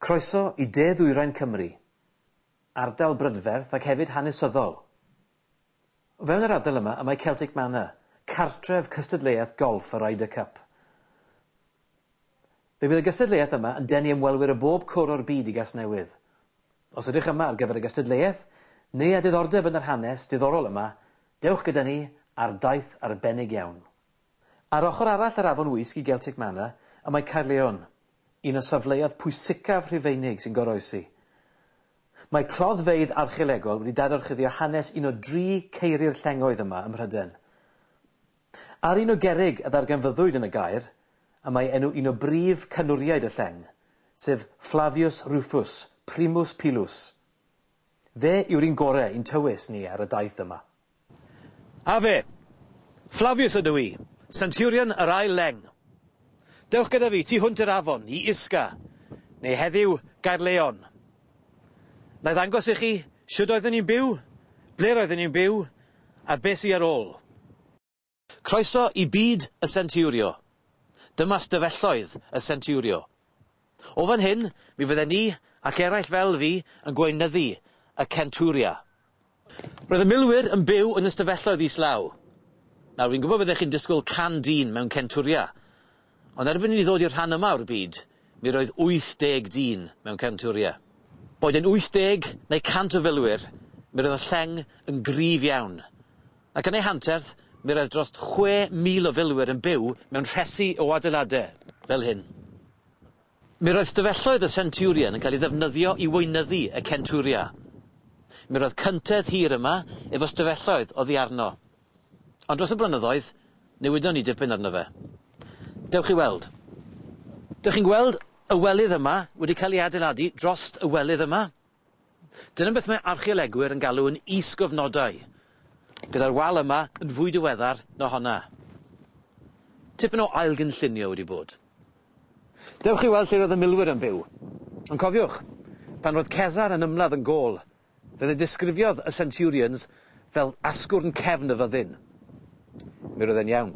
Croeso i De Ddwyrain Cymru, ardal brydferth ac hefyd hanesyddol. O fewn yr ardal yma y mae Celtic Manor, cartref cystadleuaeth golff y Ryder Cup. Fe fydd y gystadleuaeth yma yn denu ymwelwyr o bob cwr o'r byd i Gasnewydd. Os ydych yma ar gyfer y gystadleuaeth, neu â diddordeb yn yr hanes diddorol yma, dewch gyda ni ar daith arbennig iawn. Ar ochr arall yr afon Wysg i Geltic Manor y mae Caerleon, un o safleoedd pwysicaf Rhufeinig sy'n goroesi. Mae cloddfeydd archeolegol wedi dadorchuddio hanes un o dri ceiri'r llengoedd yma ym Mhrydain. Ar un o gerrig a ddarganfyddwyd yn y gaer y mae enw un o brif canwriaid y lleng, sef Flavius Rufus, Primus Pilus. Fe yw'r un gore i'n tywys ni ar y daith yma. A fe! Flavius ydw i, Centurion yr Ail Leng. Dewch gyda fi tu hwnt i'r afon, i Isca, neu heddiw Gaerleon. Na'i ddangos i chi shwd oeddwn i'n byw, ble roeddwn i'n byw, a be sy ar ôl. Croeso i byd y Centurio! Dyma stafelloedd y Centurio. O fan hyn, mi fydden ni, ac eraill fel fi, yn gweinyddu y Centuria. Roedd y milwyr yn byw yn y stafelloedd islaw. Nawr, fi'n gwybod byddech chi'n disgwyl can dyn mewn Centuria, ond erbyn i ni ddod i'r rhan yma o'r byd, mi roedd 80 dyn mewn Centuria. Boed yn 80 neu 100 o filwyr, mi roedd y lleng yn gryf iawn. Ac yn ei hanterth, mi roedd dros 6,000 o filwyr yn byw mewn rhesi o adeiladau fel hyn. Mi roedd stafelloedd y Centurion yn cael ei ddefnyddio i weinyddu y Centuria. Mi roedd cyntedd hir yma efo stafelloedd oddi arno. Ond dros y blynyddoedd, newidon ni dipyn arno fe. Dewch i weld. Dych chi'n gweld y welydd yma wedi cael ei adeiladu drost y welydd yma? Dyna beth mae archeolegwyr yn galw yn is-gofnodau, gyda'r wal yma yn fwy diweddar na honna. Tipyn o ailgynllunio wedi bod. Dewch i weld lle roedd y milwyr yn byw. Ond cofiwch, pan roedd Cesar yn ymladd yn Gaul, fe ddidisgrifiodd y centurions fel asgwrn cefn y fyddin. Mi roedd e'n iawn.